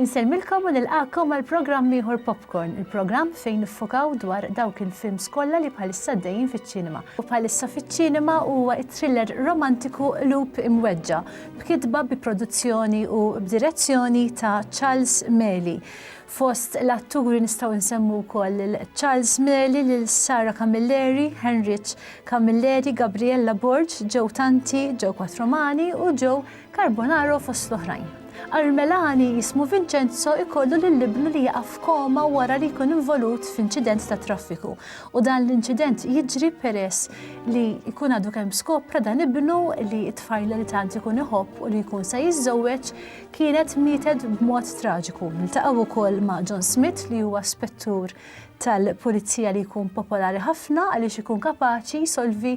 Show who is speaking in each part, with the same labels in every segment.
Speaker 1: Insellmilkom u nilqakom għal programm ieħor Popcorn, il-programm fejn niffokaw dwar dawk il-films kollha li bħalissa dejjin fiċ-ċinema. U bħalissa fiċ-ċinema huwa t-thriller romantiku Loop Imweġġa, b'kitba bi produzzjoni u b'direzzjoni ta' Charles Meli. Fost l-atturi nistgħu nsemmu wkoll lil Charles Meli, lil Sara Camilleri, Henric Camilleri, Gabriella Borg, Joe Tanti, Joe Quattromani u Joe Carbonaro fost l-oħrajn. Armelani jismu Vincenzo ikollu lil ibnu li jaqa' f'koma wara li jkun involut f'inċident ta' traffiku u dan l-inċident jiġri peress li jkun għadu kemm skopra dan ibnu li t-tfajla li tant ikun iħobb u li jkun se jiżżewweġ kienet mietet b'mod traġiku. Niltaqgħu wkoll ma' John Smith li huwa spettur tal-pulizija li jkun popolari ħafna għaliex ikun kapaċi jsolvi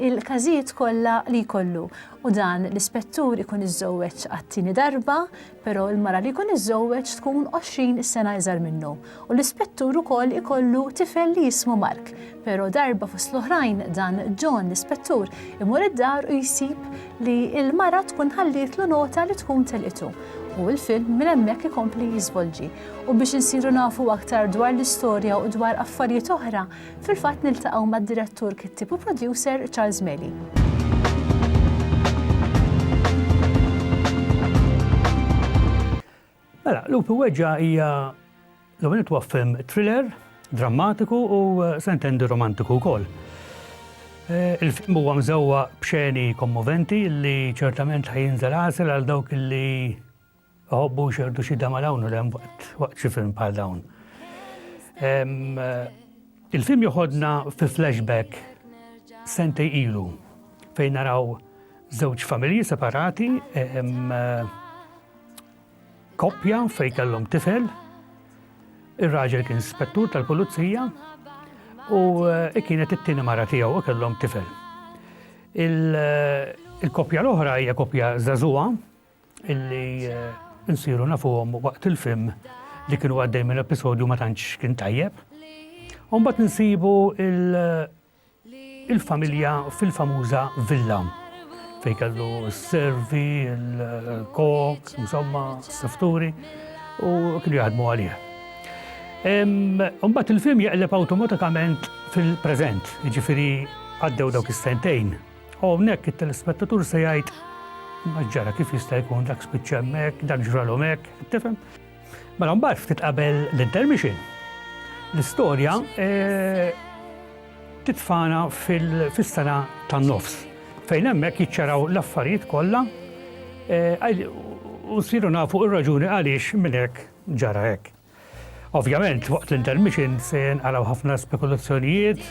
Speaker 1: il-każijiet kollha li jkollu. U dan l-ispettur ikun iżżewweġ għat-tieni darba, però l-mara li jkun iżżewweġ tkun 20 sena iżgħar minnu. u l-ispettur ukoll ikollu tifel li jismu Mark, pero darba fost l-oħrajn dan John l-ispettur imur id-dar u jsib li l-mara tkun ħallietlu nota li tkun telqitu u l-film minn hemmhekk ikompli jiżvolġi u biex insiru nafu aktar dwar l-istorja u dwar affarijiet oħra fil-fatt niltaqgħu mad-direttur kittieb u producer Charles Meli.
Speaker 2: Mela, Lupi u Weġġa' hija l-ewwel nett huwa film thriller, drammatiku u se intendi romantiku wkoll. Eh, il-film huwa mżewwa b'xeni kommoventi li ċertament ħajinżel għasel għal dawk li ħobbu xerdu xi dama dawn u hemm waqt xi film bħal dawn. Eh, Il-film joħodna fi flashback sentej ilu fejn naraw żewġ familji separati, koppja fejn kellhom tifel, ir-raġel kien spettur tal-pulizija u eh, kienet it-tieni mara tiegħu u kellhom tifel. Eh, il-koppja l-oħra hija koppja żagħżugħa illi nsiru nafuhom waqt il-film li kienu għaddej minn episodju ma tantx kien tajjeb. Umbat nsibu il-familja fil-famuża villa fej kellu s-servi, il-kok, insomma, s-sifturi u kienu jaħdmu għalih. Umbat il-film jaqleb automatikament fil-prezent, ġifiri għaddew dawk is-sentejn U hawnhekk it-telespettatur se jgħid ma ġara kif jista' jkun dak spiċċa hemmhekk, dak ġralhom hekk, tifhem? Mela mbagħad ftit qabel l-intermission. L-istorja eh, titfana fil-sena tan-nofs fejn hemmhekk jiċċaraw l-affarijiet kollha eh, u siru nafu ir-raġuni għaliex minn hekk ġara hekk. Ovvjament, waqt l-intermission se jenqalgħu ħafna spekulazzjonijiet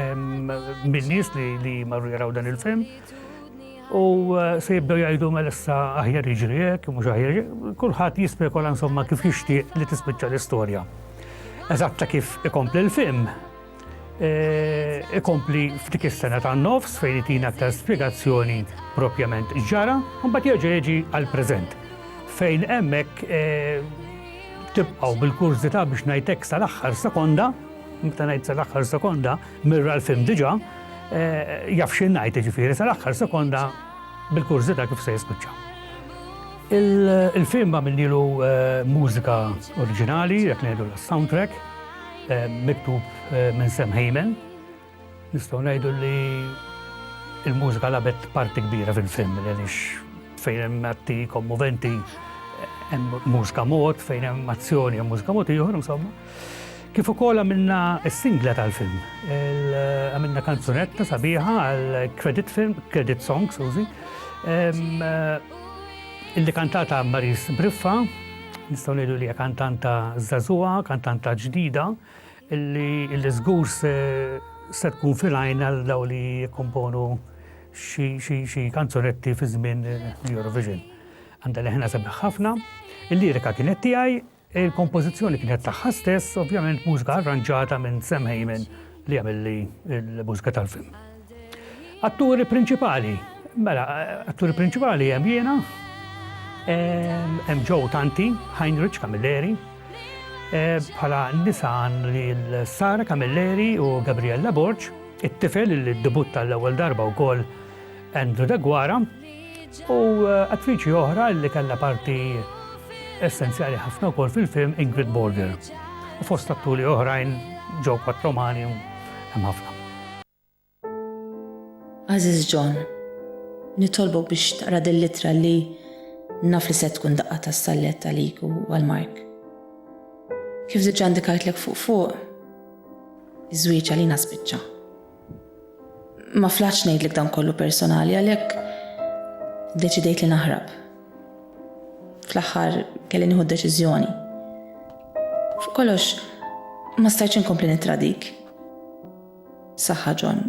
Speaker 2: minn nies li marru jaraw dan il-film. U eh, se jibdew jgħidu mela issa aħjar jiġri hekk, mhux aħjar kulħadd jispekola insomma kif jixtieq li tispiċċa l-istorja. Eżatta kif ikompli l-film, Eh, ikompli f'dik is-sena ta' nofs fejn itina aktar spjegazzjoni propjament ġara, mbagħad jerġa' jiġi għal preżent. Fejn hemmhekk eh, tibqgħu bil-kurżità biex ngħidlek sal-aħħar sekonda, meta ngħid sal-aħħar sekonda, mirra l-film diġà, eh, jaf xi ngħid jiġifieri sal-aħħar sekonda bil-kurżità kif se jispiċċa. Il-film għamilnilu mużika oriġinali, jekk ngħidu l-soundtrack, Miktub minn Sam Heyman, nistgħu ngħidu li il-mużika labet parti kbira fil-film, għaliex fejn hemm atti kommoventi, hemm mużika mod, fejn hemm azzjoni hemm mużika mod ieħor, insomma. Kif ukoll għamilna s-singla tal-film. Għamilna kanzunetta sabiħa għal credit film, credit song, sużi. Illi kantata Maryse Briffa, nistgħu ngħidu li hija kantanta żagħżugħa, kantanta ġdida, illi żgur se tkun fil-għajn għal daw li jikkomponu xi kanzunetti fi żmien l-Eurovision. Għandha leħna sabiħ ħafna, il-lirika kienet tiegħi, Il-kompożizzjoni kienet tagħha stess, ovvjament mużika arranġata minn Sam Hayman li għamilli l-mużika tal-film. Atturi prinċipali, mela, atturi prinċipali hemm jiena, hemm Joe Tanti, Heinrich Camilleri, bħala nisan li l-Sara Camilleri u Gabriella Borg, it-tifel li debutta l-ewwel darba wkoll Andrew Deguara, u attriċi oħra li kellha parti essenzjali ħafna wkoll fil-film Ingrid Borger. U fost atturi oħrajn ġew patromani hemm ħafna.
Speaker 3: Aziz John, nitolbok biex taqra din l-ittra li naf li se tkun daqqa ta' stallet għalik u għal Mark. Kif diġà ndikajtlek fuq fuq, iż-żwieġ għalina spiċċa. Ma flaħx ngħidlek dan kollu personali għalhekk deċidejt li naħrab. Fl-aħħar kelli nieħu deċiżjoni. Fuq kollox ma stajtx inkompli nittradik. Saħħa John,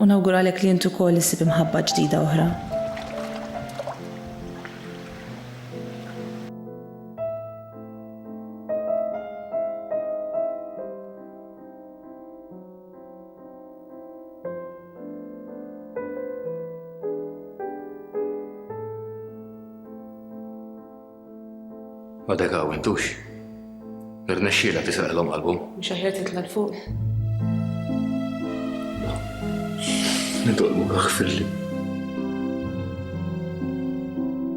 Speaker 3: u nawguralek li intu kol issib imħabba ġdida oħra.
Speaker 4: Ma dek għaw intux. Irnexxila tisraq l-om qalbhom. Mhux aħjar titla' l-fuq. Nitolmu għax fil-li.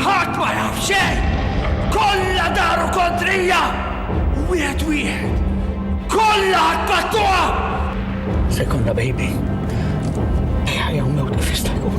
Speaker 5: Ħadd ma jaf xejn! Kollha daru kontrija! Wieħed wieħed! Kollha attakkuha! Se
Speaker 2: jkollna baby. Ejja jew mewt kif jista' jkun.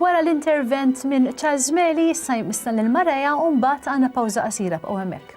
Speaker 1: Wara l-intervent minn Charles Meli, issa jmissna l-Mareja u mbagħad għandna pawża qasira b'qgħu hemmhekk.